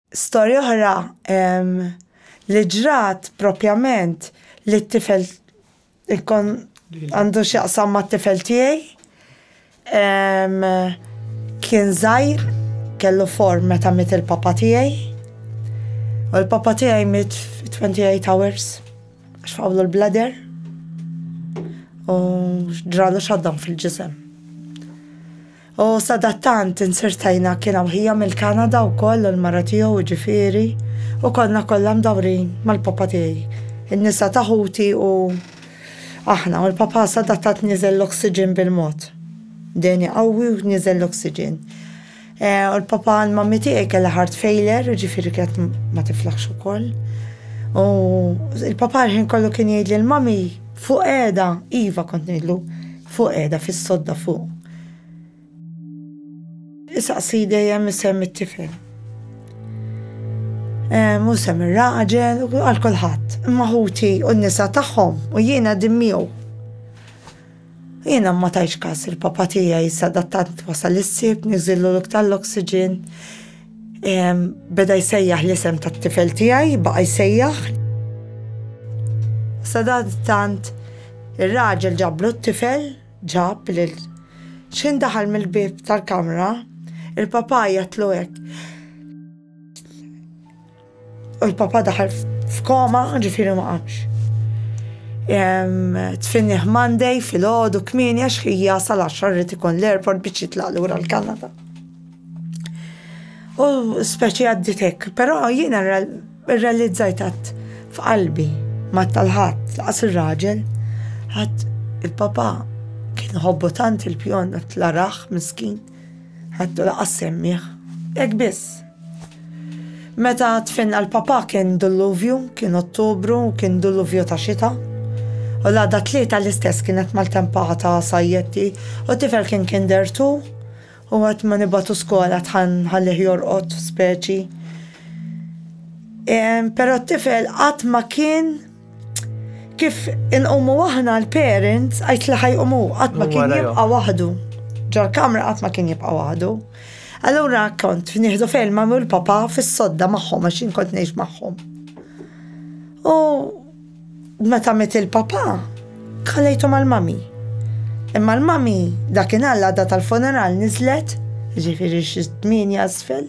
Storja oħra li ġrat propjament li t-tifel għandu x'jaqsam mat-tifel tiegħi kien żgħir kellu form meta miet il-papa tiegħi u l-papa tiegħi miet fi 28 hours għax faqgħulu l-bladder u ġralu shutdown fil-ġisem. U sadattant insirtajna kien hawn ħija mill-Kanada wkoll u l-mara tiegħu jiġifieri, u konna kollha mdawrin mal-papa tiegħi, in-nisa ta' ħuti u aħna, u l-papa sadattant niżel l-oxygen bil-mod. Dehni qawwi u niżel l-oxygen. U l-papa għand mammi tiegħi kellha heart failure, jiġifieri kienet ma tiflaħx ukoll. U l-papa l-ħin kollu kien jgħid lil mommy, fuq qiegħda, iva kont ngħidlu, Fuq qiegħda fis-sodda fuq. Isaqsi dejjem isem it-tifel. Mhu sem ir-raġel u għal kulħadd. Imma ħuti u n-nisa tagħhom u jien qegħdin miegħu. Jiena ma tajtx każ li l-papà tiegħi sadattant wasal is-Sibt niżillu l-ok tal-oxygen. Beda jsejjaħ l-isem tat-tifel tiegħi, baqa' jsejjaħ. Sadantant ir-raġel ġablu t-tifel, ġab lil x'ħin daħal mill-bieb tal-kamra, il-papà jgħidlu hekk. U l-papa daħal f'koma, ġifiri ma qamx. Tfinniħ Monday fil-ħodu kmini għax ħija sal-10 rrit ikun l-airport biex jitlaq lura l-Kanada. U speċi għadditek, pero jiena realizzajt għat f'qalbi ma tal-ħat, laqas il-raġel, ħat il-papa kien hobbotant tant il-pjon l-araħ miskin. Ħadtu laqqas semmieh. Hekk biss. Meta tfinna l-papà kien dulluvju, kien Ottubru u kien dulluvju ta' xita. U l-għada t-Tlieta l-istess kienet maltempa ta' sajjetti u t-tifel kien kinder two u waqt ma nibgħatu skola dħal nħallih jorqod speċi. Però t-tifel qatt ma kien Kif inqumu aħna l-parents, għajt li ħajqumu, qatt ma kien jibqa' waħdu. Ġol-kamra qatt ma kien jibqa' waħdu. Allura kont nieħdu fejn ma mul papa fis-sodda magħhom għax jien kont ngħix magħhom. U meta met il-papa, kalejtu mal-mami. Imma l-mami dakin għalla da tal-funeral nizlet, ġifiri xizmin jasfel.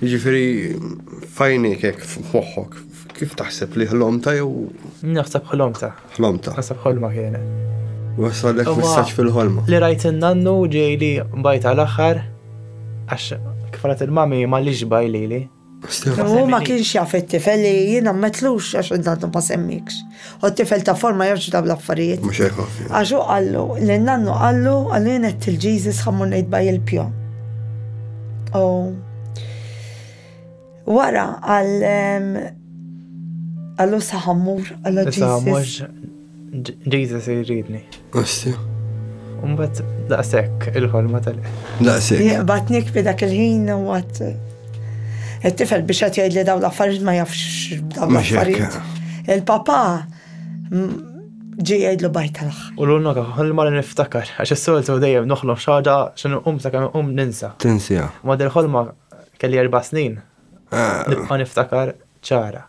Jiġifieri f'għajnejk hekk f'moħħok, kif taħseb li ħlomta jew? Naħseb ħlomta. Ħlomta. Naħseb ħolma kienet. Wasalek messaġġ fil-ħolma. Li rajt in-nannu ġej li bajt għal aħħar għax kif rat il-mami ma li ġbaj lili. U ma kienx jaf it-tifel li jiena metlux għax id-nannu ma semmikx. U t-tifel ta' forma ma jafx dawn l-affarijiet. Mhux hekk ħafna. Għax hu qallu, lil nannu qallu, qallu jien għedt il-Jesus ħa mmur ngħid baj il-pjo. U wara għal għallu saħammur għallu Jesus. Jesus jridni. Għassi. Umbat daqsek il-ħolma tal Daqsek. Jaqbatnik bi dak il-ħin u għat. Il-tifel biex għat jgħid li daw l-affarijiet ma jafx daw l-affarijiet. Il-papa ġi jgħidlu bajt tal U l-unna ħolma li niftakar, għax s-soltu dejjem noħlom xaġa xinu um sa' kam um ninsa. Tinsija. Ma dil-ħolma kelli erba snin. Ah. Nibqa niftakar ċara.